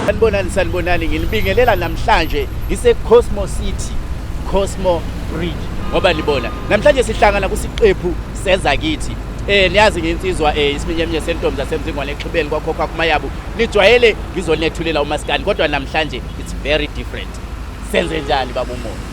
sanibonani sanibonani nginibingelela namhlanje ngise-cosmo city cosmo bridge ngoba libona namhlanje sihlangana kusiqephu seza kithi eh niyazi ngensizwa eh isiminyeminye sentombi zasemzingwane exhibeni kwakhokha kumayabu nijwayele ngizonethulela umaskandi kodwa namhlanje it's very different senze njani baba umoya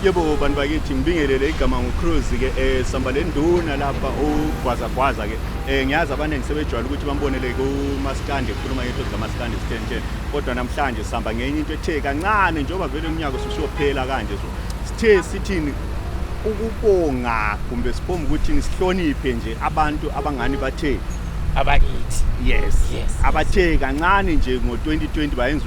yebo bantu bakithi ngibingelele igama ngucruise ke um sihamba le nduna lapha ugwazagwaza ke um ngiyazi abaningi sebejwayele ukuthi bambonele kumaskandi ekhuluma ngento zikamaskandi sithensheni kodwa namhlanje sihamba ngenye into ethe kancane njengoba vele umnyaka ususiyophela kanje so sithe sithini ukubonga kumbe sibonga ukuthi sihloniphe nje abantu abangani bathe abakithi yes yes abathe kancane nje ngo2020 bayenza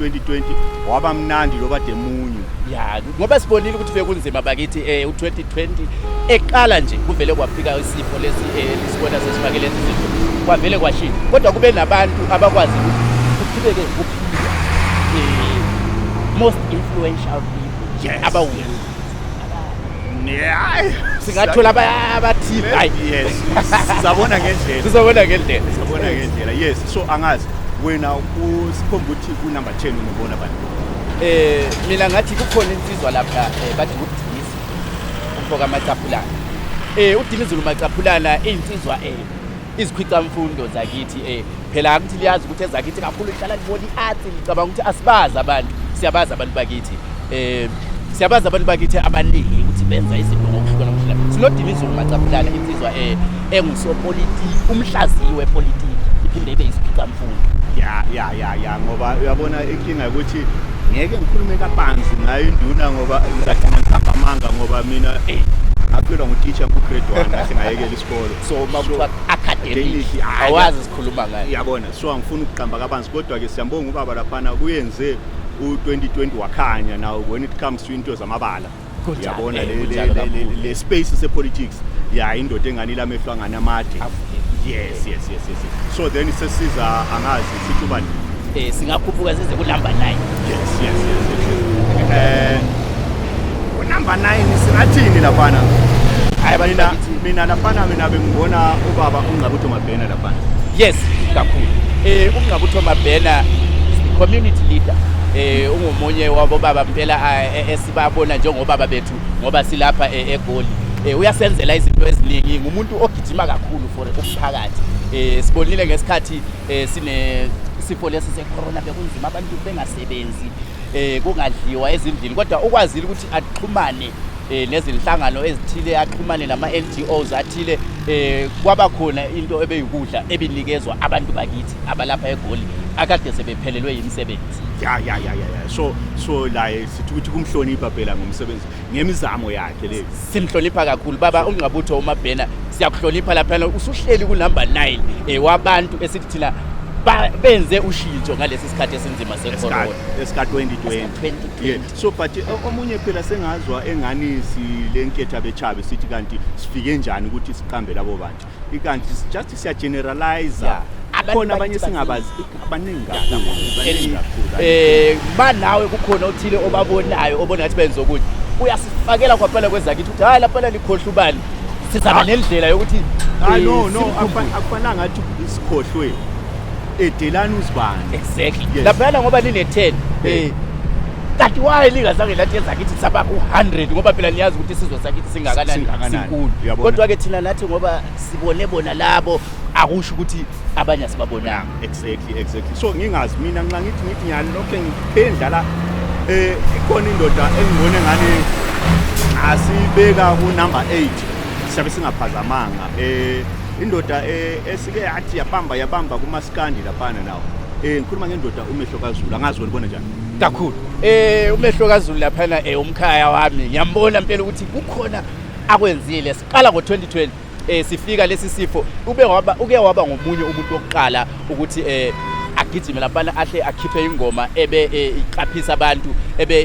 2020 waba mnandi loba demunyu ya ngoba sibonile ukuthi bekunzima bakithi eh u2020 eqala nje kuvele kwafika isifo lesi eh, lisibona sesifakele izinto kwavele kwashintsha kodwa kube nabantu abakwazi ukuqhubeke ukuphila eh, most influential people yes, abawu yes. singathola abathile hayi yes sizabona ngendlela sizabona ngendlela sizabona ngendlela yes so angazi wena usikhomba ukuthi kunumber 10 unobona bani eh mina ngathi kukhona insizwa lapha eh, bathi ukudinisa umfoka macaphulana eh udinizulu macaphulana insizwa eh izikhwicamfundo zakithi eh phela akuthi liyazi ukuthi ezakithi kakhulu lihlala libona i-art licabanga ukuthi asibazi abantu siyabazi abantu bakithi eh siyabazi abantu bakithi abaningi ukuthi benza izinto ngokuhlukana ngokuhlukana sinodilizulu macaphulana insizwa eh engusopolitiki umhlaziyi wepolitiki iphinde ibe isikhwicamfundo ya ya ya ya ngoba uyabona inkinga ukuthi ngeke ngikhulume kabanzi ngayo induna ngoba ngizagcina ngisamba amanga ngoba mina eh ngaphilwa ngutitsha ngukgrade one ngahle ngayekela isikolo so makuthiwa academic awazi sikhuluma ngayo iyabona so angifuni ukuqamba kabanzi kodwa ke siyambonga ubaba laphana kuyenze u2020 wakhanya now when it comes to into zamabala uyabona le space se politics ya indoda engani lamehlo angani amade yes yes yes yes so then sesiza angazi sithi ubani eh singakhuphuka size ku number 9 yes yes yes eh ku number 9 singathini laphana hayi mina mina laphana mina bengibona ubaba ungcabutho mabhena laphana yes kakhulu eh ungcabutho mabhena community leader eh ungomunye wabo baba impela eh, eh, esibabona njengobaba bethu ngoba silapha eh, egoli eh uyasenzela izinto eziningi ngumuntu ogijima kakhulu for umphakathi eh sibonile ngesikhathi Eh sine sifo lesi secorona bekunzima abantu bengasebenzi eh kungadliwa ezindlini kodwa ukwazile ukuthi axhumane eh nezinhlangano ezithile axhumane nama NGOs athile eh kwaba khona into ebeyikudla ebinikezwa abantu bakithi abalapha eGoli akade sebephelelwe yimisebenzi ya ya ya ya so so la sithukuthi kumhlonipha phela ngomsebenzi ngemizamo yakhe le simhlonipha kakhulu baba ungqabutho umabhena siyakuhlonipha laphana usuhleli kunumber 9 eh, wabantu esithi thina benze ushintsho ngalesi sikhathi esinzima secorona esika 2020 yeah. so but uh, omunye phela sengazwa engani silenketha bechabe sithi kanti sifike njani ukuthi siqambe labo bantu ikanti just siya generalizer yeah. khona abanye singabazi abaningi kakhulu eh banawe kukhona othile obabonayo obona ngathi benza ukuthi uyasifakela kwaphela kwezakithi ukuthi hayi laphela likhohle ubani sizaba ah. nendlela yokuthi ah eh, no no akufanele ngathi isikhohlwe edelani uzibani exactly laphela ngoba line 10 eh kanti waye lingazange lathi ezakithi saba ku-100 ngoba phela niyazi ukuthi isizwe sakithi singakanani sinkulu kodwa-ke thina nathi ngoba sibone bona labo akusho ukuthi abanye asibabonanga exactly exactly so ngingazi mina nxa ngithi ngithi nyani lokho engiphendlala um eh, ikhona indoda engibone ngani asibeka kunumber eight siyabe singaphazamanga um indoda eh, esike yathi yabamba yabamba kumasikandi laphana nawo um ngikhuluma ngendoda umehlo kazulu angazi welibona njani kakhulu eh umehlo kaZulu laphana eh umkhaya wami ngiyambona impela ukuthi kukhona akwenzile siqala ngo2020 eh sifika lesi sifo ube waba uke waba ngomunye umuntu wokuqala ukuthi eh agijime laphana ahle akhiphe ingoma ebe eh, iqaphisa abantu ebe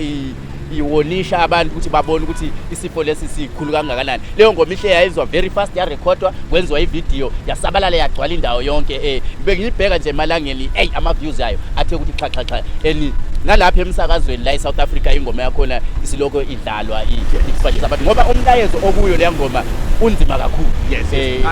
iwonisha abantu ukuthi babone ukuthi isifo lesi sikhulu kangakanani leyo ngoma ihle yayizwa very fast yarekhodwa kwenziwa ividiyo yasabalala yagcwala indawo yonke um eh, bengiyibheka nje emalangeni eyi ama-views ayo athe ukuthi xhaxhaxa and nalapha emsakazweni la e-south africa ingoma yakhona isilokho idlalwa ifakisa abantu ngoba umlayezo okuyo leya ngoma unzima kakhulu yes, yes. Eh,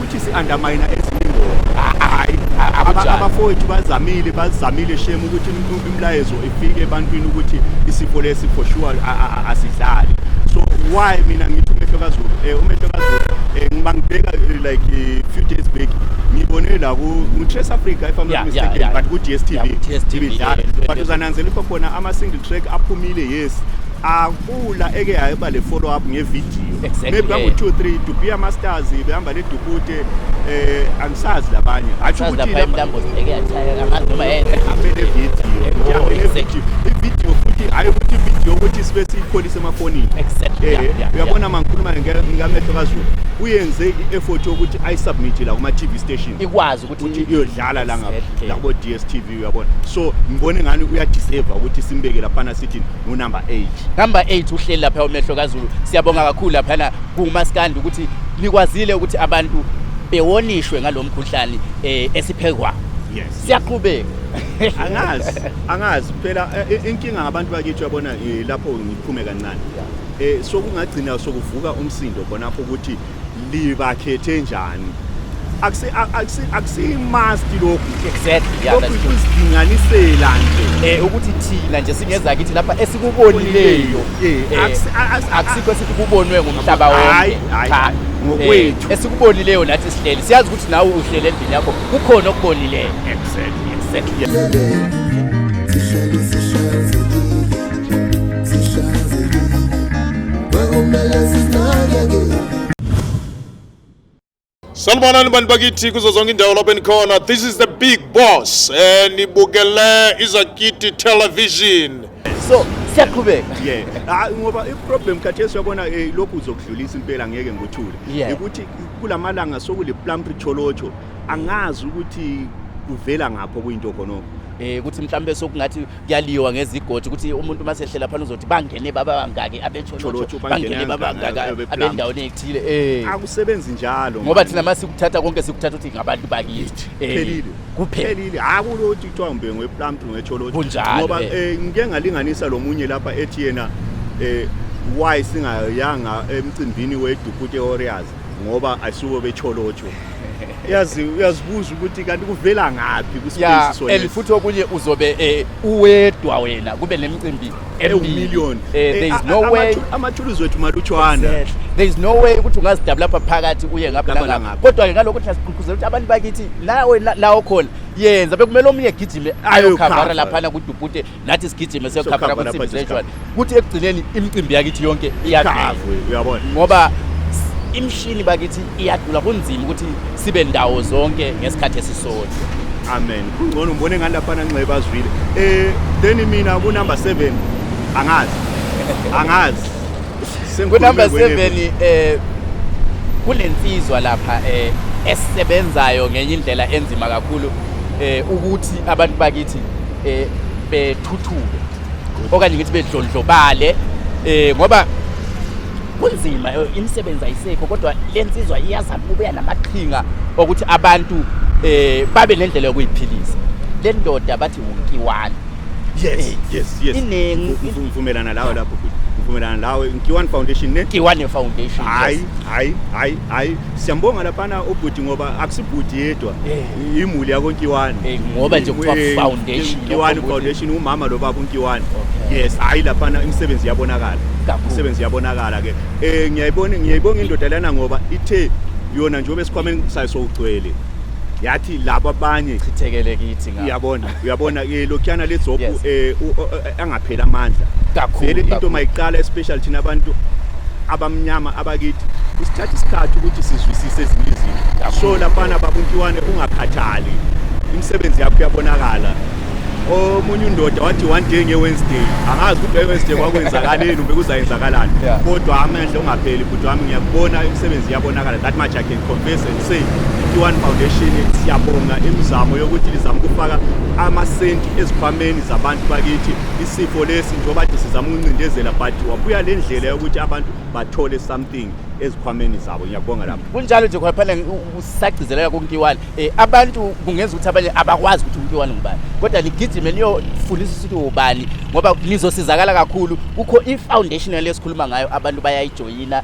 Ithi si undermine ezinye ingoma. Hayi Aba- akunjalo. Abafowethu bazamile bazamile shem ukuthi im- imlayezo ifike ebantwini ukuthi isifo lesi for sure a- a- a- asidlali. So why mina ngithi umehlo kaZulu eh umehlo kaZulu eh ngiba ngibheka eh, like eh, few days back ngibone la ku ku Trace Africa if I'm Yeah, not yeah, mistaken yeah. but ku Yeah, DStv ku DStv, ibidlala. yeah, yeah. But uzananzela ukuthi khona ama single track aphumile yes. Ah, Pula eke yayeba le follow up ngevidiyo exactly. maybe bangu 2 3 Dubia Masters behamba le Dubute eh angisazi labanye athi ukuthi lapha intambo zibheke yathaya angazi noma yenze amele video oh, exactly. video futhi hayi ukuthi video ukuthi sibe siyipholise emafonini exactly eh, yeah, yeah, uyabona yeah. mangikhuluma ngamehlo kaZulu uyenze i-effort yokuthi ayisubmit la kuma TV station ikwazi ukuthi iyodlala la ngapha la kubo DStv uyabona so ngibone ngani uyadeserve ukuthi simbeke laphana sithi ngunumber 8 number 8 uhleli lapha umehlo kazulu siyabonga kakhulu laphana kumaskandi ukuthi nikwazile ukuthi abantu bewonishwe ngalomkhuhlane eh, esiphekwa yes siyaqhubeka angazi angazi phela eh, eh, inkinga ngabantu bakithi uyabona eh, lapho ngiphume kancane eh sokungagcina sokuvuka umsindo khonapho ukuthi libakhethe njani akusimasti lokhu lokhu kusidinganisela nje eh, ukuthi thina nje singezakithi lapha esikubonileyo eh, eh, akusikho esithi kubonwe ngumhlaba wonke ngokwethu esikubonileyo nathi sihleli siyazi ukuthi nawe uhlele endlini yakho kukhona okubonileyo exactly exactly Salmanani bantu bakithi kuzo zonke indawo lapho enikhona this is the big boss eh nibukele izakiti television so siyaqhubeka yeah ah, ngoba iproblem khathesi uyabona eh, lokhu uzokudlulisa impela ngeke ngothule ukuthi kulamalanga sokule plum richolocho angazi ukuthi kuvela ngapho kuyinto khonoko eh ukuthi mhlambe sokungathi kuyaliwa ngezigodi ukuthi umuntu uma sehlela phana uzothi bangene baba bangaki abetsholotsho bangene baba bangaki abendaweni ethile eh akusebenzi njalo ngoba thina mase sikuthatha konke sikuthatha uthi ngabantu bakithi eh, phelile kuphelile hakulothi kuthiwa ngbe ngweplampi ngwetsholotsho ngoba eh. Eh, ngike ngalinganisa lomunye lapha ethi yena eh why singayanga emcimbini weDukuti Warriors ngoba ayisuke becholotsho yazi uyazibuza ukuthi kanti kuvela ngaphi kuspace so and futhi okunye uzobe eh, uwedwa wena kube nemicimbi emillion eh, eh, there is no way amathuluzi wethu malutshwana there is no way ukuthi ungazidabula lapha phakathi uye ngapha ngapha kodwa ke ngalokho siyagqugquzela ukuthi abantu bakithi la la okhona yenza bekumele omunye egijime ayokhavara laphana kudubhute nathi sigijime siyokhavela kwisimbi zeshwana kuthi ekugcineni imicimbi yakithi yonke iyakhavwe uyabona ngoba imishini bakithi iyadula kunzima ukuthi sibe ndawo zonke ngesikhathi esisodwa amen kungcono ngibone ngani laphana nxeba azwile eh then mina ku number 7 angazi angazi ku number 7 eh kunensizwa lapha eh esisebenzayo ngenye indlela enzima kakhulu eh ukuthi abantu bakithi eh bethuthuke okanye ngithi bedlondlobale eh ngoba kunzima eh, imisebenzi ayisekho kodwa lensizwa iyazama ukubuya namaqhinga okuthi abantu eh babe nendlela yokuyiphilisa le ndoda bathi wunkiwani yes eh, yes yes iningi ngivumelana lawo lapho ngivumelana lawe nkiwani foundation ne nkiwani foundation hayi hayi hayi hayi siyambonga laphana ubhuti ngoba akusibhuti yedwa eh. imuli yakonkiwani Eh, ngoba nje kuthiwa Eh, foundation, Nkiwani lokho ukuthi- foundation umama lo baba unkiwani Okay. yes hayi laphana imisebenzi yabonakala Kakhulu. imisebenzi yabonakala ke eh ngiyayibona ngiyayibonga indoda lana ngoba ithe yona njengoba esikhwameni sayo sokugcwele yathi laba abanye Chithekele kithi ngapha. iyabona uyabona ke lokhiyana ledzobhu Yes. eh u- o- o- angapheli amandla Kakhulu, vele into kakhulu. mayiqala especially thina abantu abamnyama abakithi isithatha isikhathi ukuthi sizwisise ezinye izinto Kakhulu. so lafana babuntiwane ungakhathali imisebenzi yakho iyabonakala omunye undoda wathi one day nge-wednesday angazi ukuthi nge-wednesday kwakwenzakaleni ube kuzayenzakalani Yeah. kodwa amandla ungapheli bhuti wami ngiyakubona imisebenzi iyabonakala that much I can Confess and say i-One Foundation siyabonga imizamo yokuthi lizama ukufaka amasenti ezikhwameni zabantu bakithi isifo lesi njengoba nje sizama ukuncindezela but wabuya le ndlela yokuthi abantu bathole something ezikhwameni zabo ngiyabonga lapho kunjalo nje khona phela usagcizelela kunkiwani um eh, abantu kungenza ukuthi abanye abakwazi ukuthi unkiwani ngubani kodwa ligijime liyofundisa ukuthi wubani ngoba nizosizakala kakhulu kukho i-foundation yale esikhuluma ngayo abantu bayayijoyina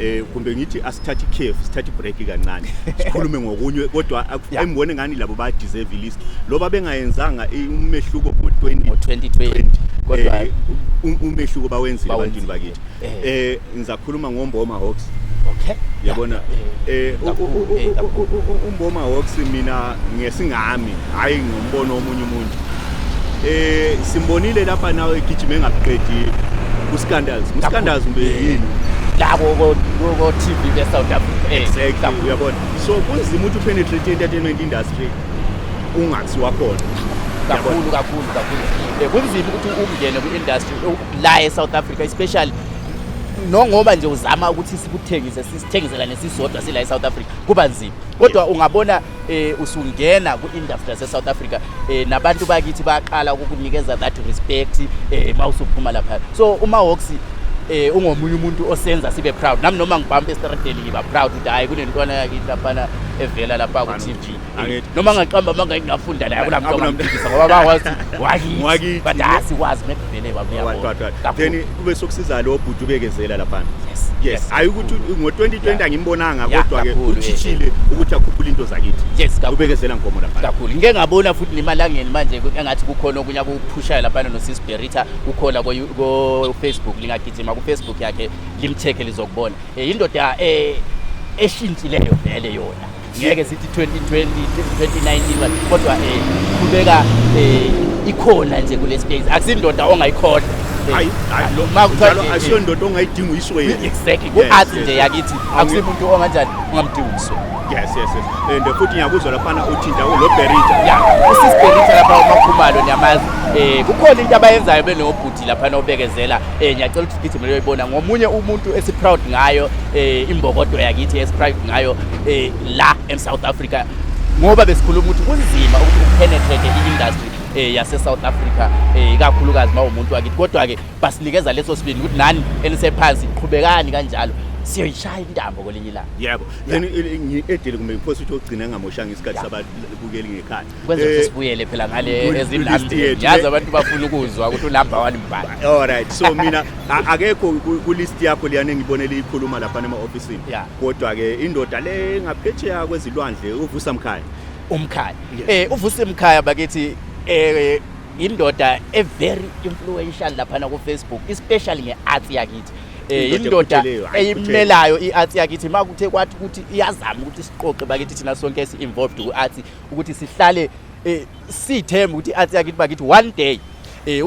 eh kumbe ngithi asithathe ikhefu sithathe ibreak kancane sikhulume ngokunye kodwa ayibone ngani labo ba deserve list loba bengayenzanga umehluko ngo-2020 kodwa eh, um, umehluko bawenzile abantwini bakithi eh. eh ngizakhuluma ngomboma hawks okay yabona eh, eh umboma hawks mina ngesingami hayi Ubona omunye umuntu. Eh simbonile lapha nawe egijima engakuqedi uScandals. UScandals ube yini? La ko ko TV be South Africa. Eh, Exactly uyabona. So kunzima ukuthi upenetrate entertainment industry ungathi wakhona. kakhulu kakhulu kakhulu Eh, kunzima ukuthi ungene kwi-industry eh, la e-south africa especially nongoba nje uzama ukuthi sikuthengise sisithengiselane sisodwa sila e-south africa kuba nzima kodwa ungabona eh usungena ku-industry yase-south africa eh nabantu bakithi baqala ukukunikeza that respect eh uma usuphuma lapha so umahawks eh ungomunye umuntu osenza sibe proud nami noma ngibhampa estradeni ngiba proud ukuthi hhayi kunentwana yakithi laphana evela lapha ku-tv eh, noma ngaqamba amanga ngingafunda naye akunamuntu ongamphikisa ngoba bakwazi wakithi but asikwazi Vele baba Ngoba uyabona. qwaqwa. Kakhulu. Then kube sokusiza lo bhuti ubekezela lapha. Yes, Yes, yes, hayi ukuthi ngo-2020 Yeah. angimbonanga Yeah, kodwa ke kakhulu, eh, uchishile ukuthi akhuphule into zakithi. Yes, kakhulu. Ubekezela nkomo lapha. kakhulu ngike ngabona futhi nemalangeni manje ku- engathi kukhona okunye akuphushayo laphana nosis berita kukhona ko- ko-facebook lingagijima kufacebook yakhe limthekhe lizokubona Eh, yindoda eh, eshintshileyo vele yona ngeke sithi 2020 2019 kodwa eh kubeka eh ikhona nje kule space akusindoda ongayikhoda hayi hayi lo makuthatha asiyo ndoda ongayidinga uyiswe exactly ku art nje yakithi akusimuntu onganjani ungamdinga uyiswe yes yes yes and futhi ngiyakuzwa lapha uthinta lo berita yeah usis berita lapha umakhumalo niyamazi eh kukhona into abayenzayo benobhuti lapha nobekezela eh ngiyacela ukuthi sigijimele uyibona ngomunye umuntu esiproud ngayo eh imbokodo yakithi esiproud ngayo eh la in South Africa ngoba besikhuluma ukuthi kunzima ukuthi upenetrate i-industry eh yase South Africa eh ikakhulukazi mawumuntu wakithi kodwa ke basinikeza leso sibindi ukuthi nani enisephansi qhubekani kanjalo siyoyishaya intambo kwelinye ilanga yebo then edele kumbe ngiphosa ukuthi ogcina ngamoshanga isikhathi sababukeli ngekhaya kwenzeka ukuthi sibuyele phela ngale ezindambeni yazi abantu bafuna ukuzwa ukuthi unumber one mbani all right so mina akekho kulist yakho liyane ngibonela ikhuluma lapha ema office kodwa ke indoda le ngaphetsheya kwezilwandle uvusa mkhaya umkhaya eh uvusa imkhaya bakithi eh indoda e very influential lapha na ku Facebook especially nge art yakithi Eh, indoda eyimelayo i-arts yakithi uma kuthe kwathi ukuthi iyazama ukuthi siqoqe bakithi thina sonke esi-involved ku-arts ukuthi sihlale eh sithemba ukuthi athi yakithi bakithi one day eh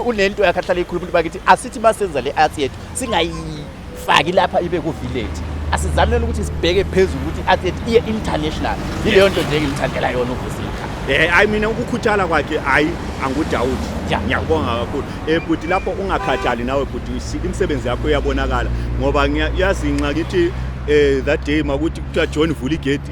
unento yakhe ahlale ikhuluma ukuthi bakithi asithi masenza le athi yethu singayifaki lapha ibe ku village asizamele ukuthi sibheke phezulu ukuthi athi yethu iye international yileyo nto nje engimthandela yona uvusi Eh I mean ukukhuthala kwakhe hayi angudawuthi. Ngiyabonga kakhulu. Eh bhuti lapho ungakhathali nawe bhuti imisebenzi yakho iyabonakala ngoba ngiyazinxa ngithi eh that day makuthi kuthiwa John vula igedi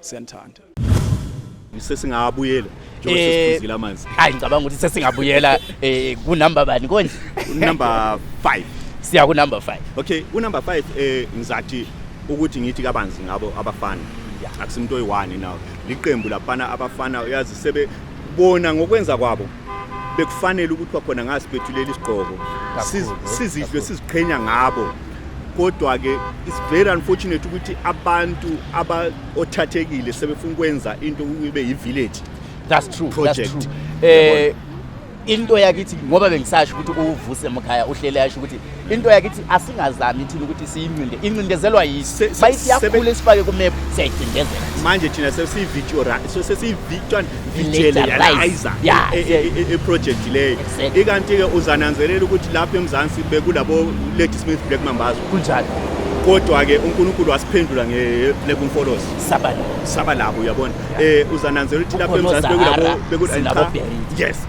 siyanithanda sesingabuyela njengoba Eh, sesiphuzile amanzi Hayi ngicabanga ukuthi sesingabuyela eh ku number bani konje? number 5 Siya ku number 5. okay unumber 5 eh ngizathi ukuthi ngithi kabanzi ngabo abafana Yeah. akusimuntu oyi-one nawo liqembu labafana abafana uyazi sebebona ngokwenza kwabo bekufanele ukuthi kwakhona ngasiphethulela isigqoko sizidlwe siziqhenya ngabo kodwa-ke it's very unfortunate ukuthi abantu abaothathekile sebefuna ukwenza into kube yi-village that's true project that's true. Eh, into yakithi ngoba bengisasho ukuthi uwuvuse mkhaya uhlele yasho ukuthi into yakithi asingazami thina ukuthi siyincinde incindezelwa yisi bayithi yakhule sifake kumephu siyayicindezela manje thina sesiyivisualizer eproject leyo ikanti-ke uzananzelela ukuthi lapha emzansi bekulabo lady smith black mambazo kunjalo kodwa-ke unkulunkulu wasiphendula nge-black umfolosi saba labo uyabona um uzananzelela ukuthi lapha emzansi bekulabo yes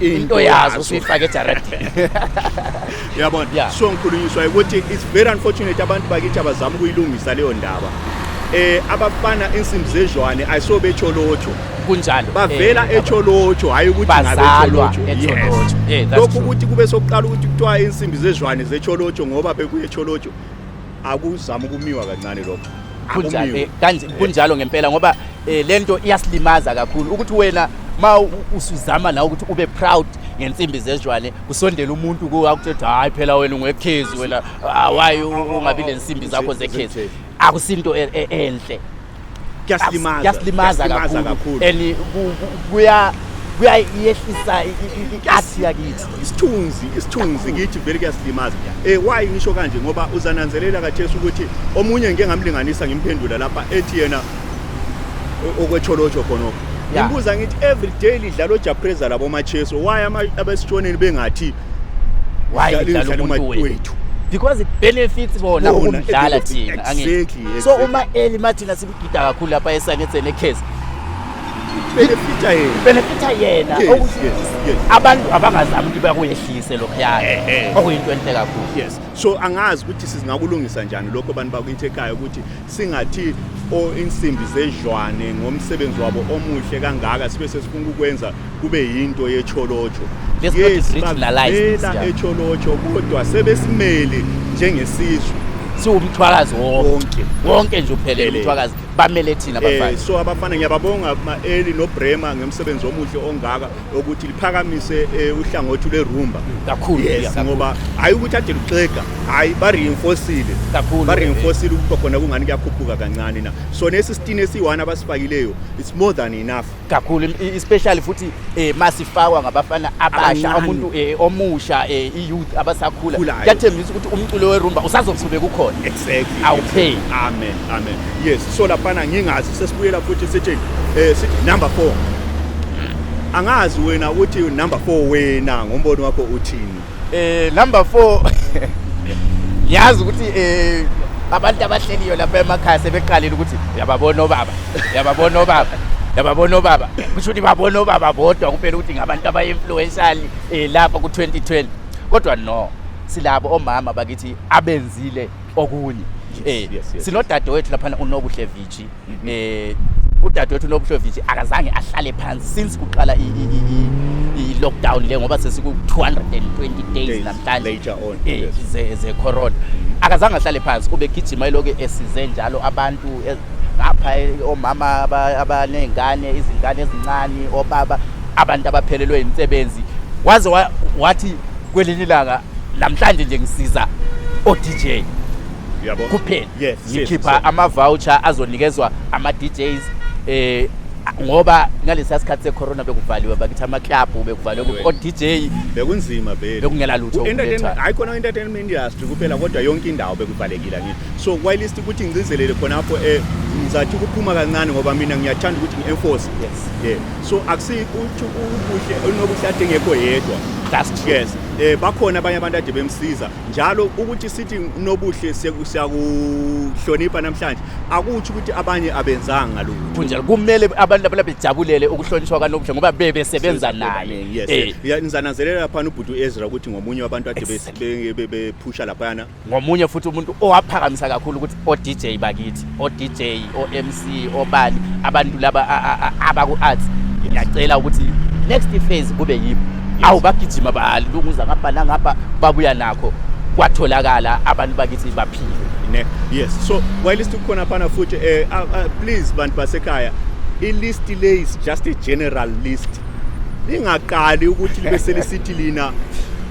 into yazo usuyifake ejaradini yabona yeah. so ngikhulunyiswa ukuthi it's very unfortunate abantu bakithi abazama ukuyilungisa leyo ndaba eh abafana insimbi zezwane ayiso becholotsho kunjalo bavela eh, echolotsho hayi ukuthi ngabecholotsho yes eh, lokhu ukuthi kube sokuqala ukuthi kuthiwa insimbi zezwane zecholotsho ngoba bekuye echolotsho akuzama ukumiwa kancane lokho kunjani kanje kunjalo ngempela ngoba eh, lento iyasilimaza kakhulu ukuthi wena ma usuzama la ukuthi ube proud ngensimbi zezwane kusondela umuntu kuwe akuthethi hayi phela wena ungekhezi wena ah, why ungabi nensimbi zakho zekhezi akusinto e, e, enhle kuyasilimaza kuyasilimaza Kuyasilimaza kakhulu kakhulu. and ku- ku- kuya kuyayehlisa i-art yakithi isithunzi isithunzi kithi vele kuyasilimaza um why ngisho kanje ngoba uzananzelela kathesi ukuthi omunye ngike ngamlinganisa ngimphendula lapha ethi yena o- okwetsholotsho khonoko Yeah. ngimbuza ngithi every day lidlala ojapreza labomacheso why ama- abesitshoneni bengathi why idlala umuntu wethu because it benefits bona ukumdlala thina angithi so uma eli mathina sikugida kakhulu lapha esangetheni ekhezi benefita yena benefita yena ukuthi abantu abangazami ukuthi bakuyehlise lokho yakhe eh, eh. okuyinto enhle kakhulu yes so angazi ukuthi sizingakulungisa njani lokho abantu bakwinthekhaya ukuthi Singathi o insimbi zedlwane ngomsebenzi wabo omuhle kangaka sibe sesifuna ukwenza kube yinto yecholocho Let's not yes regionalize this, bavela yeah. echolocho kodwa sebesimele njengesizwe siwumthwakazi wonke wonke wonke nje uphelele Phelele. umthwakazi bamele thina Eh, bafana so abafana ngiyababonga ma-eli nobrema ngomsebenzi omuhle ongaka ukuthi liphakamise eh, uhlangothi lwerumba kakhulu yes ngoba hayi ukuthi ade luxega hayi ba reinforcile kakhulu ba reinforcile ukuthi khona kungani kuyakhuphuka kancane na so nesi sitini esiyi-1 abasifakileyo it's more than enough kakhulu especially futhi eh masifakwa ngabafana abasha umuntu eh, omusha eh, i-youth abasakhula kuyathembisa ukuthi umculo werumba usazoqhubeka ukhona exactly awupheli amen amen yes so laphana ngingazi sesibuyela futhi sithi eh sithi number 4 angazi wena ukuthi number 4 wena ngombono wakho uthini eh number 4 yazi ukuthi eh abantu abahleliyo lapha emakhaya sebeqalile ukuthi yababona obaba yababona obaba yababona obaba kusho ukuthi babona obaba bodwa kuphela ukuthi ngabantu abayi-influential um eh, lapha ku-2020 kodwa no silabo omama bakithi abenzile okunye eh Yes, yes, sinodadewethu laphana uNobuhle Vici eh udadewethu uNobuhle Vici akazange ahlale phansi since kuqala i- i- i- i- i lockdown le ngoba sesiku 220 days Days namhlanje later on, eh, yes. ze ze corona akazange ahlale phansi ubegijima eloke esize njalo abantu e- ngapha eh, omama aba- abanezingane izingane ezincane obaba abantu abaphelelwe imisebenzi waze wa- wathi kwelinye ilanga namhlanje nje ngisiza o-dj Uyabo? kuphela Yes, yes, ngikhipha so- ama-voucher azonikezwa ama-djs eh ngoba ngalesiya sikhathi secorona bekuvaliwe bakithi amaklabhu bekuvaliwe Anyway. o-dj bekunzima vele Bekungela lutho Ku- entertainment- ukulethwa. hayi khona entertainment industry kuphela kodwa yonke indawo bekuvalekile ngini so kwayilist ukuthi ngigcizelele khonapho um ngizathi ukuphuma kancane ngoba mina ngiyathanda ukuthi ngi-enforce Yes. yeah so akusikho ubuhle onobuhle adingekho yedwa that's true yes eh bakhona abanye abantu ade bemsiza njalo ukuthi sithi unobuhle siyakuhlonipha namhlanje akuthi ukuthi abanye abenzanga lokho kunjalo kumele abantu laba bejabulele ukuhlonishwa kanobuhle ngoba bebe sebenza naye yes eh. nizananzelela lapha ubhuti uEzra ukuthi ngomunye wabantu ade bephusha lapha ngomunye futhi umuntu owaphakamisa kakhulu ukuthi o-DJ bakithi o-DJ o-MC obani abantu laba abaku-arts ngiyacela ukuthi next phase kube yibo awu bagijima balunguza ngapha nangapha babuya nakho kwatholakala abantu bakithi baphile ne yes so while istu khona phana futhi eh uh, uh, please bantu basekhaya i list le is just a general list lingaqali ukuthi libe selisithi lina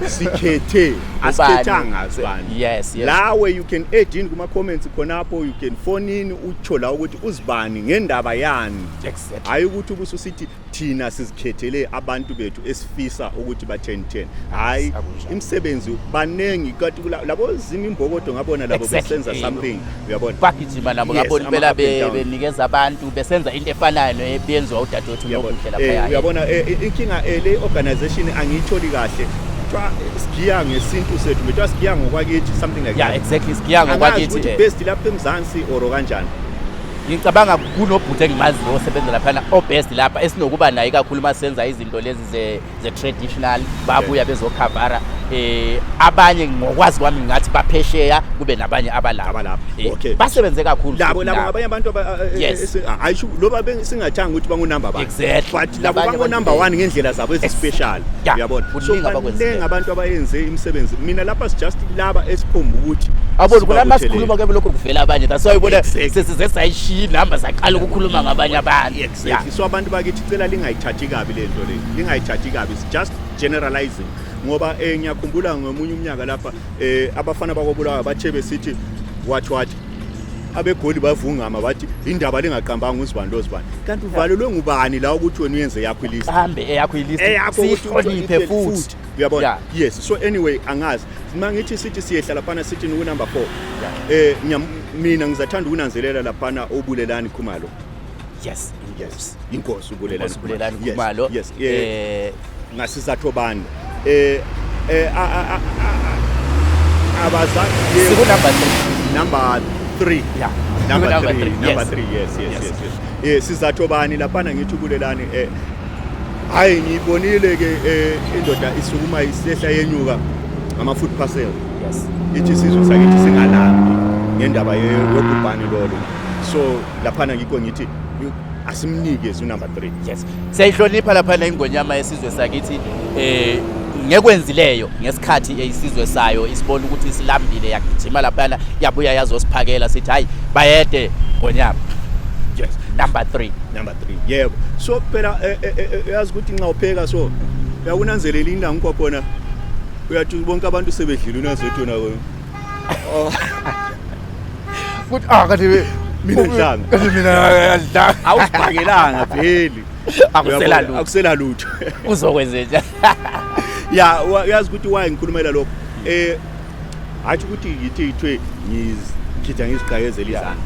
sikhethe asikhethanga sibani yes, yes. lawe you can add in kuma comments khonapho you can phone in utsho la ukuthi uzibani ngendaba yani exactly. hayi ukuthi ubususithi thina sizikhethele abantu bethu esifisa ukuthi batheni theni hayi imisebenzi baningi kanti labo zimi imbokodo ngabona labo exactly. besenza something uyabona bagijima nabo Yes, ngabona ama impela up and be- down. benikeza abantu besenza into efanayo neyenziwa udadewethu Uyabona? nokuhle Eh, lapha uyabona eh, eh, inkinga eh, le organization angiyitholi kahle kuthiwa sigiya ngesintu sethu bethiwa sigiya ngokwakithi something like yeah that exactly sigiya angazi ngokwakithi ukuthi eh. best lapha emzansi or kanjani ngicabanga kunobhuti engimaziyo osebenza laphana obest lapha esinokuba naye kakhulu uma senza izinto lezi ze the traditional babuya bezokhavara eh abanye ngokwazi kwami ngathi baphesheya kube nabanye abalapha Abalapha, Eh, okay. basebenze kakhulu labo futhi labo nabo. ngabanye abantu aba- eh, Yes. eh, si- ah, ayisho loba be- singathanga ukuthi bangunumber one Exactly. but labo Labanye bangunumber abantu- one ngendlela zabo ezispecial Yeah. uyabona Kuningi so abakwenzileyo. baningi abantu abayenze imisebenzi mina lapha sijust laba esiphumba ukuthi abona kula sibabuthelele. masikhuluma ke lokho kuvela abanye that's why ubona Exactly. sesize sayishiya inhamba saqala ukukhuluma ngabanye abantu Yeah. So abantu bakithi cela lingayithathi kabi le nto le lingayithathi kabi it's just generalizing ngoba eh ngiyakhumbula ngomunye umnyaka lapha eh abafana bakobulawa bathe besithi what what abegoli bavungama bathi indaba lingaqambanga uzibani lozibani kanti uvalelwe ngubani la ukuthi wena uyenze yakho ilist hambe eyakho ilist eyakho sihloniphe futhi uyabona yeah. yes so anyway angazi uma ngithi sithi siyehla laphana sithi nikunumber 4 yeah. eh mina ngizathanda ukunanzelela laphana obulelani khumalo yes yes inkosi ubulelani ubulelani kumalo yes eh ngasizathu bani eh eh abazali siku number 3 number 3 yeah number 3 number 3 yes yes yes yes eh sizathu bani laphana ngithi ubulelani eh hayi ngibonile ke eh, indoda isukuma isehla yenyuka ama food parcel yes ithi sizwe sakithi singalambi ngendaba yobhubhane lolo so laphana ngikho ngithi asimnike unumber 3 yes siyayihlonipha laphana ingonyama yesizwe sakithi eh ngekwenzileyo ngesikhathi eyisizwe sayo isibona ukuthi isilambile yagijima laphana yabuya yazosiphakela sithi hayi bayede ngonyama yes number 3 number 3 yebo so phela eh, eh, eh, uyazi ukuthi nxa upheka so uyakunanzelela indawo ngikwakhona uyathi bonke abantu sebedlile unazothi wena Kuthi ah kanti Mina ngidlanga. Kanti mina ngidlanga. Awusibhakelanga veli. Akusela lutho. Akusela lutho. Uzokwenzenja. Ya uyazi ukuthi why ngikhulumela lokho. Eh hathi ukuthi yithi ithwe ngizikhitha ngizigqayezela izana.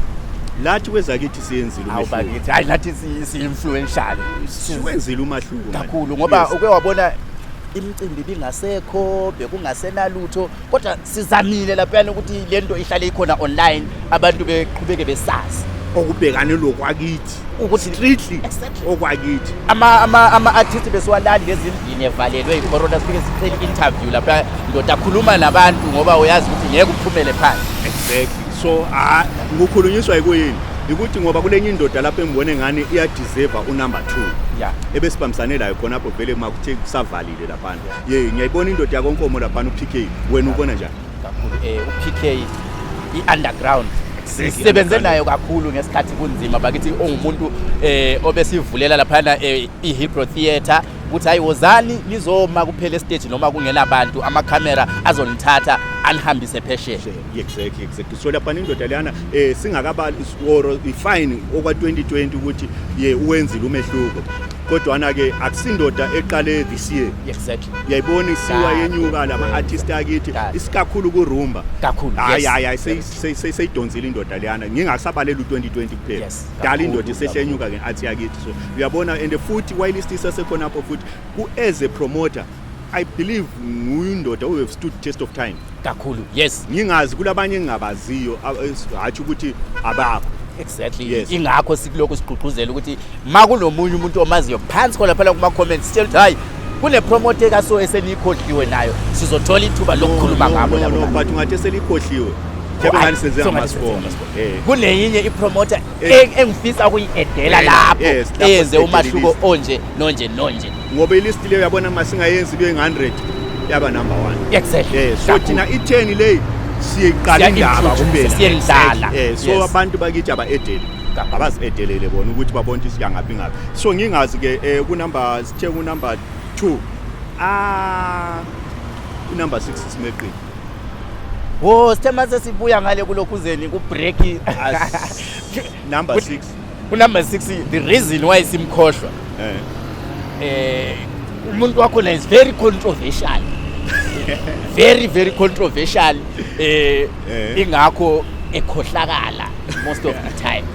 Lathi kwezakithi siyenzile umehluko. Hawu bakithi, hayi lathi si-influential. Siwenzile umahluko. Kakhulu ngoba uke wabona imicimbi bingasekho bekungasenalutho kodwa sizamile laphayana ukuthi le nto ihlale ikhona online abantu beqhubeke besazi okubhekane lokwakithi ukuthi strictly okwakithi ama ama ama artists besiwalali lezindini evalelwe icorona sifike sicela interview lapha ndoda khuluma nabantu ngoba uyazi ukuthi ngeke uphumele phansi exactly so ah ngokhulunyiswa ikuyini ukuthi ngoba kulenye indoda lapho engibone ngani iyadeserve unumber 2 yeah ebesibambisane layo khona lapho vele makuthe kusavalile lapha ye ngiyayibona indoda yakonkomo laphana uPK wena ubona njani kakhulu eh uPK i-underground sisebenze nayo kakhulu ngesikhathi kunzima bakithi ongumuntu eh obesivulela laphana eh, i-Hipro Theatre ukuthi hayi wozani lizoma kuphela estage noma kungena abantu amakhamera azonithatha anihambise phesheya exactly exactly so lapha indoda leyana eh singakabali or ifine okwa 2020 ukuthi ye uwenzile umehluko kodwana ke akusindoda eqale this year exactly uyayibona isiwa yenyuka lama artist akithi isikakhulu ku rumba kakhulu hayi hayi hayi seyidonzile indoda leyana ngingasabalela u2020 kuphela dala indoda isehlenyuka ngeathi yakithi so uyabona and futhi while isisa sekhona apho futhi ku as a promoter I believe nguyindoda who have stood test of time. kakhulu yes Ngingazi kulabanye engingabaziyo a- es- hatshi ukuthi abakho. exactly Yes. ingakho sikulokhu sigqugquzela ukuthi ma kunomunye umuntu omaziyo phansi khona phela kuma-comments sitshela ukuthi hhayi kunepromote kaso eseniyikhohliwe nayo sizothola ithuba lokukhuluma No, ngabo no, labo no, bantu. but ungathi selikhohliwe. Mhlawumbe Hhayi, ngathi senze so ngathi senze ngamaspong. ngamaspong. Eh. kuneyinye ipromoter Eh. e- engifisa ukuyi-edela Eh, lapho yes, lapho eyenze sibhekile umahluko ilist. onje nonje nonje ngoba ilist leyo yabona uma singayenzi kuyo 100 yaba number 1 exactly eh so thina itheni leyi siyiqala indaba kuphela siyendlala eh so abantu bakithi aba edeli abazi edelele bona ukuthi babona ukuthi siyangaphi ngapi so ngingazi ke eh, ku number sithe ku number 2 ah ku number 6 simeqini wo sithe mase sibuya ngale kulokhuzeni ku break number 6 Unumber 6 the reason why simkhohlwa. Eh. Eh umuntu wakho is very controversial. very very controversial eh, eh. ingakho ekhohlakala most of the time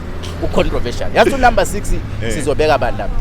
u controversial. Yazi unumber 6 eh. sizobeka abantu lapha.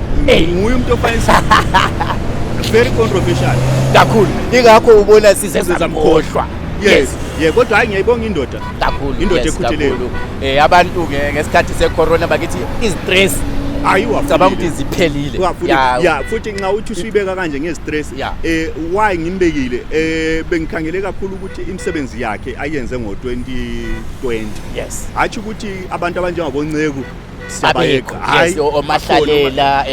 Hey. Nguye umuntu ofanisa. Very controversial. Kakhulu. Ingakho ubona size samkhohlwa. Yes. Yeah, kodwa hayi ngiyayibonga indoda. Kakhulu. Indoda ekhutheleyo. Eh abantu ke ngesikhathi secorona bakithi istress ayiwa cabanga ukuthi ziphelile ya futhi nxa uthi usuyibeka kanje ngestress eh why ngimbekile eh bengikhangele kakhulu ukuthi imisebenzi yakhe ayenze ngo 2020 yes athi ukuthi abantu abanjengabonceku siyabayeqa hayi omahlalela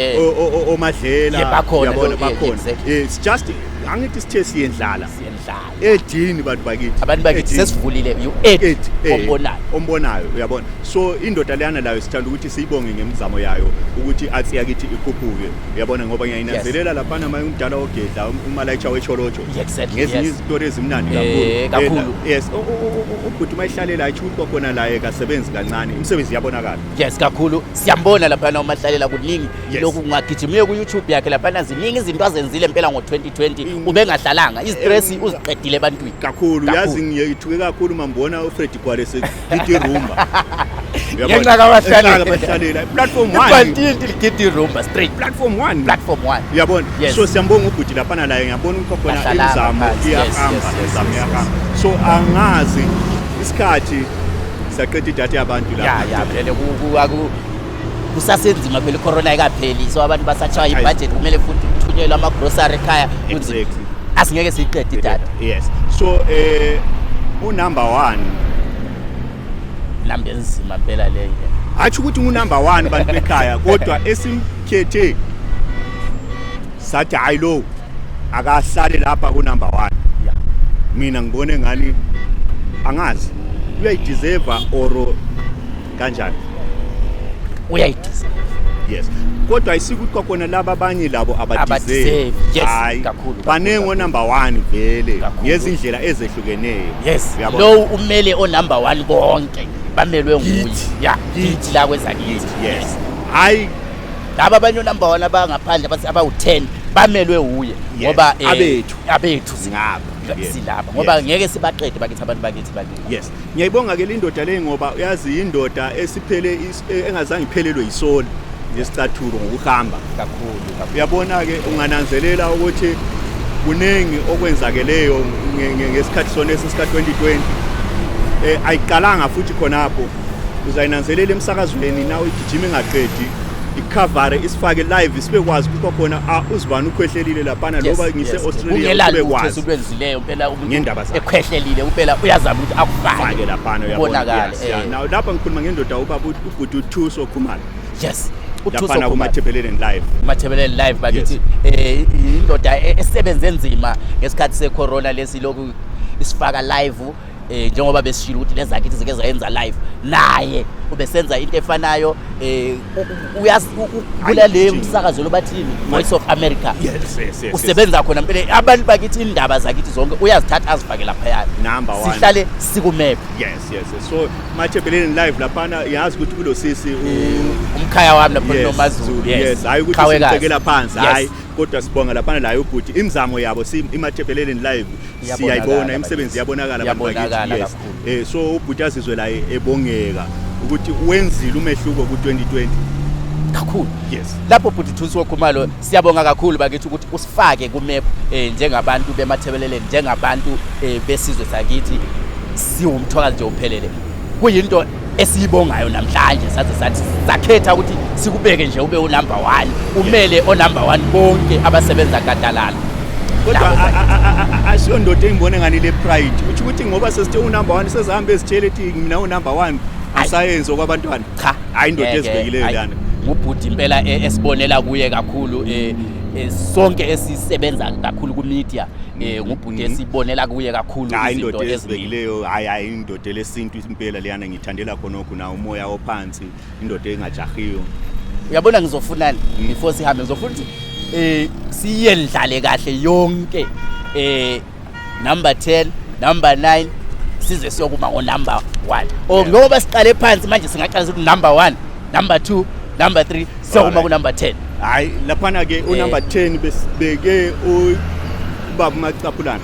omadlela bakhona bakhona it's just angithi sithe siyendlala siyendlala edini bantu bakithi abantu bakithi sesivulile you eight ombonayo ombonayo uyabona so indoda leyana layo sithanda ukuthi siyibonge ngemizamo yayo ukuthi athi yakithi ikhuphuke uyabona ngoba ngiyayinazelela lapha nama umdala ogedla umalayicha wecholocho Exactly, ngezinye yes. izitori ezimnandi Eh, kakhulu. kakhulu Eh, yes u- u- u- u- ubhuti uma ehlalela ayisho ukuthi kwakhona laye kasebenzi kancane imisebenzi iyabonakala yes kakhulu siyambona laphana umahlalela kuningi Yes. lokhu ungagijimile ku-youtube yakhe laphana ziningi izinto azenzile mpela ngo-2020 In- ubengahlalanga izitresi In- uziqedile ebantwini kakhulu Kakhulu. yazi ngiyithuke kakhulu uma ngibona ufredi gwale se- Gidi rumba. Ngenxa kabahlalela. Bahlalela. Platform 1. Ibhantinti ligidi rumba straight. Platform 1. Platform 1. Uyabona? Yes. So siyambonga ubhuti lapha na la ngiyabona ukuthi khona Bahlala imizamo ngaphansi. Yes, yes, iyahamba yes, imizamo yes, iyahamba. So angazi isikhathi saqeda idatha yabantu lapha. Ya ya vele ku- ku- aku- kusasenzima phela icorona ayikapheli so abantu basatshaya ibudget kumele futhi kuthunyelwe amagrocery ekhaya kunzima asingeke siyiqede idatha yes so eh unumber 1 namba enzima phela leyo hathi ukuthi unumber 1 bantu bekhaya kodwa esimkhethe sathi hayi lo akahlale lapha kunumber 1 yeah mina ngibone ngani angazi uyayideserve or kanjani uyayidiza yes kodwa isikuthi kwakhona laba abanye labo abadizevi yes kakhulu baningi onumber 1 vele ngezindlela ezehlukeneyo yes lowo umele onumber 1 bonke bamelwe nguye ya yithi la kwezakithi yes hayi laba abanye onumber 1 abangaphandle abathi abawu10 bamelwe uye ngoba eh, abethu abethu singaba silapha ngoba ngeke sibaqede bakithi abantu bakithi bakithi yes Ngiyayibonga ke lindoda le ngoba uyazi indoda esiphele e, engazange iphelelwe yisoli ngesicathulo ngokuhamba kakhulu. Uyabona ke ungananzelela ukuthi kuningi okwenzakeleyo ngesikhathi sona esika 2020 eh ayiqalanga futhi khonapho uzayinanzelela emsakazweni nawe igijima ingaqedi ikhavare isifake live isibekwazi ukuthi khona uzibani ukhwehlelile lapana loba ngise Australia ubekwazi ubezileyo impela ngendaba zakhe ekhwehlelile impela uyazama ukuthi akufake laphana uyabonakala eh. now lapha ngikhuluma ngendoda ubaba ubhuti uthuso khumalo yes laphana kumathebeleleni live mathebeleleni live bakithi eh indoda e-, esebenze nzima ngesikhathi secorona lesi lokhu isifaka live eh njengoba besishilo ukuthi lezakithi zike zayenza live naye ubesenza into efanayo eh uyakula le msakazo lobathini voice of america yes, yes, yes, usebenza khona mpele abantu bakithi indaba zakithi zonke uyazithatha azifake laphaya sihlale sikumephe yes, yes, yes. so mathebeleni live laphana yazi ukuthi kulo sisi umkhaya wami lapho nomazulu yes hayi ukuthi simcekela phansi hayi kodwa sibonga laphana layo ubhuti imizamo yabo si imathebheleleni live Iyabonakala siyayibona bakithi. imisebenzi yabonakala abantu bakithi, Iyabonakala yes. kakhulu. eh so ubhuti azizwe la e- ebongeka ukuthi wenzile umehluko ku-2020 kakhulu yes lapho bhuti thusi wokhumalo siyabonga kakhulu bakithi ukuthi usifake kumep eh, njengabantu bemathebeleleni njengabantu eh, besizwe sakithi siwumthwakazi nje uphelele kuyinto esiyibongayo namhlanje saze sathi sakhetha ukuthi sikubeke nje ube unumber one umele onumber one bonke abasebenza gadalala kodwa ashiyo ndoda engibona ngani le pride uthi ukuthi ngoba sesithe unumber one sezihamba ezitshele ethi mina unumber one asayenzi okwabantwana cha hayi ndoda ezibekileyo lana ngubhuti impela e, esibonela kuye kakhulu e, e, sonke esisebenza kakhulu kumedia mm-hmm. ngubhuti mm-hmm. esibonela kuye kakhulu izinto ezibekileyo hayi hayi indoda lesintu impela leyana ngithandela khonokho na umoya ophansi indoda engajahiyo uyabona ngizofunani mm. before sihambe ngizofuna ukuthi eh siyendlale kahle yonke eh number 10 number 9 size siyokuma ngo number 1 oh ngoba siqale phansi manje singaqala ukuthi number 1 number 2 number 3 siyokuma ku number 10 hayi laphana ke u number 10 eh. besibeke u baba macaphulana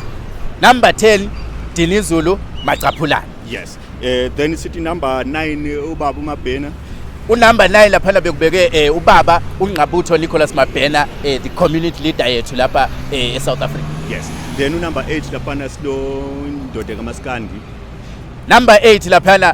number 10 Dinizulu Macaphulana. Yes. Eh then sithi number 9 ubaba uMabhena. Unumber 9 lapha la bekubeke eh ubaba uNgqabutho Nicholas Mabhena eh the community leader yethu lapha eh eSouth Africa. Yes. Then unumber 8 lapha na silo indoda kaMaskandi. Number 8 lapha na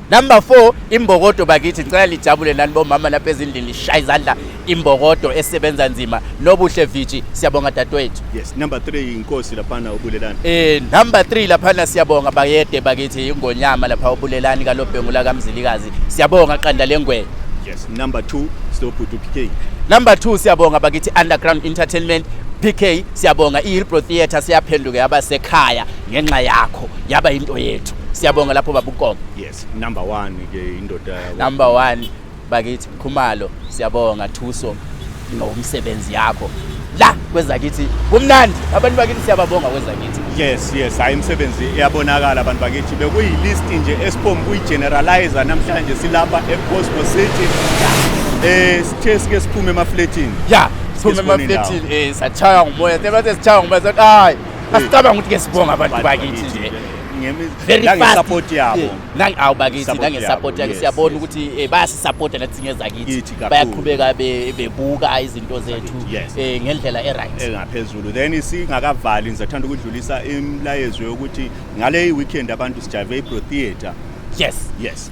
Number 4 imbokodo bakithi ngicela lijabule nani bomama lapha ezindlini lishaya izandla imbokodo esebenza nzima nobuhle viji siyabonga dadwethu yes number 3 inkosi laphana ubulelani eh number 3 laphana siyabonga bayede bakithi ingonyama lapha ubulelani kalobhengu la kamzilikazi siyabonga qanda lengwe yes number 2 silobhuti PK number 2 siyabonga bakithi underground entertainment PK siyabonga iHillbrow Theatre siyaphenduka yaba sekhaya ngenxa yakho yaba into yethu siyabonga lapho Nkomo. Yes, number 1 ke indoda yabo. Number 1 bakithi Khumalo siyabonga Thuso ngomsebenzi yakho. La kwezakithi kumnandi abantu bakithi siyababonga kwezakithi. Yes, yes, hayi imisebenzi iyabonakala abantu bakithi bekuyi list nje esiphomu kuyi generalizer namhlanje silapha e Cosmo City. Eh sithe sike siphume emafletini. Yeah, siphume emafletini eh sachaya ngumoya. Sebathe sichaya ngumoya sathi hayi asicabanga ukuthi ke sibonga abantu bakithi nje. nangesupport yabo awubakithi nangesupport yake siyabona ukuthi eh, bayasisapota nathi singeza kithi bayaqhubeka bebuka izinto zethu eh, ngendlela e-right engaphezulu then singakavali ngizathanda ukudlulisa imlayezo yokuthi ngale weekend abantu sijayive ibro theatre yes yes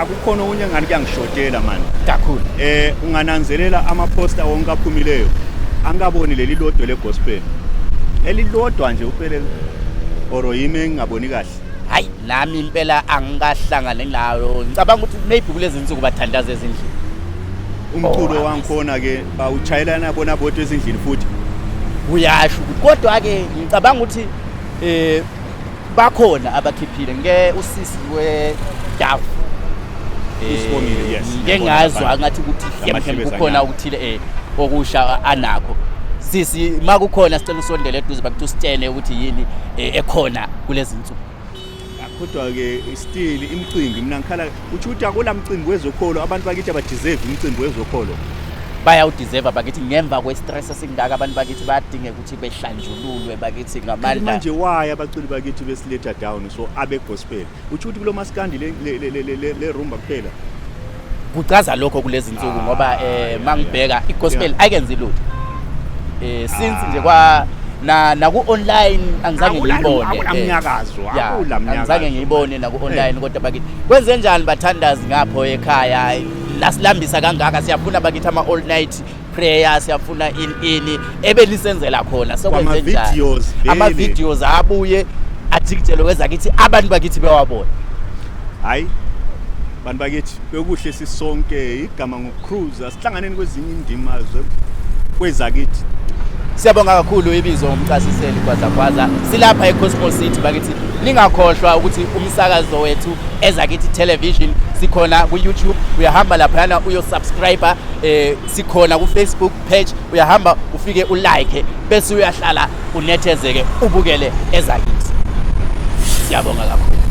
akukhona okunye ngani kuyangishotela mani kakhulu eh ungananzelela amaposta wonke aphumileyo angikaboni leli lodwe legospel elilodwa nje uphelele or yimi engingaboni kahle hayi nami impela angikahlangane nayo ngicabanga ukuthi maybe kulezi nsuku bathandaza ezindlini umculo oh, wangikhona ke bawuchayelana bona bodwa ezindlini futhi uyasho ukuthi kodwa ke ngicabanga ukuthi eh bakhona abakhiphile nge usisi wedavu Usibongile, yes. ngike Ngiyabona ngazwa lapha. ngathi ukuthi Lamahlebezi hlemhlem kukhona anyama. okuthile eh okusha anakho sisi ma kukhona sicela usondele eduze bakuthi usitshene ukuthi yini eh, ekhona kulezi nsuku kodwa-ke still imicimbi mina ngikhala utsho ukuthi akula mcimbi wezokholo abantu bakithi abadeserve imicimbi wezokholo bayawudeserve bakithi ngemva kwe-stress esingaka abantu bakithi bayadingeka ukuthi behlanjululwe bakithi ngamandla manje why abaculi bakithi besiletha down so abe gospel uthi ukuthi kulo maskandi le le le le le rumba kuphela kuchaza lokho kulezi nsuku ah, ngoba eh mangibheka igospel akenzi lutho eh since ah. nje kwa na naku online angizange ngiyibone akulamnyakazo eh, akulamnyakazo angizange ngiyibone naku eh. online kodwa bakithi kwenze njani bathandazi ngapho ekhaya lasilambisa kangaka siyafuna bakithi ama all night prayer siyafuna in ini ebelisenzela khona sekwenze njani ama videos abuye ajikijelo kwezakithi abantu bakithi bewabona hayi bantu bakithi bekuhle sisonke igama ngocruise asihlanganeni kwezinye indima kwezakithi siyabonga kakhulu ibizo ngomcasiseli kwazakwaza silapha ecosmo city bakithi ningakhohlwa ukuthi umsakazo wethu ezakithi television sikhona ku-youtube uyahamba laphayana uyosubscribe eh sikhona ku Facebook page uyahamba ufike u like bese uyahlala unethezeke ubukele ezakithi siyabonga kakhulu